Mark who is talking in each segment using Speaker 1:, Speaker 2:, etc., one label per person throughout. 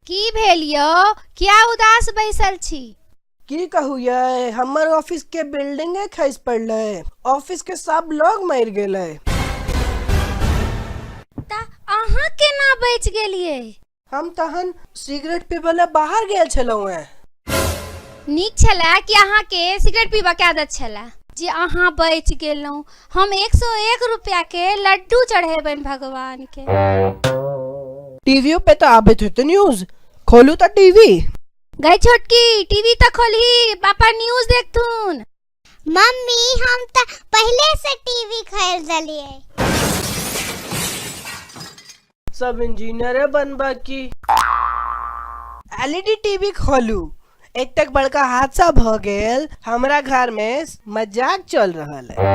Speaker 1: की भेल यौ किया उदास बैसल छी की कहू ये हमर ऑफिस के बिल्डिंगे खसि पड़ले ऑफिस के सब लोग मर गेले तऽ अहाँ केना बचि गेलियै हम तहन सिगरेट पीबय लए बाहर गेल छलहुँ हेँ नीक छलए कि अहाँके सिगरेट पीबऽ के आदत छलए जे अहाँ बचि गेलहुँ हम एक सौ एक रुपया के लड्डू चढ़ेबनि भगवान के टीवीओ पे तऽ आबैत हेतै न्यूज खोलू तऽ टीवी गई छोटकी टीवी तऽ खोलही पापा न्यूज देखथुन मम्मी हम त पहले से टीवी खरीद लिए सब इंजीनियरे बनबा की एलईडी टीवी खोलू एक तक बड़का हादसा भ गेल हमरा घर में मजाक चल रहल है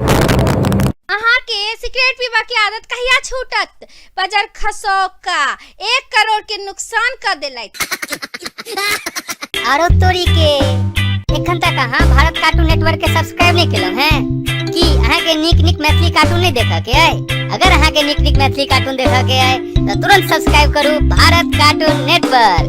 Speaker 1: अहाँ के सिगरेट पीबा के आदत कहिया छूटत बजर खसौका एक करोड़ के नुकसान कर देलक आरो तोरी के एखन तक अहाँ भारत कार्टून नेटवर्क के सब्सक्राइब नहीं केलहुं हैं की अहाँ के नीक नीक मैथिली कार्टून नहीं देखा के आए अगर अहाँ के नीक नीक मैथिली कार्टून देखा के आए तो तुरंत सब्सक्राइब करू भारत कार्टून नेटवर्क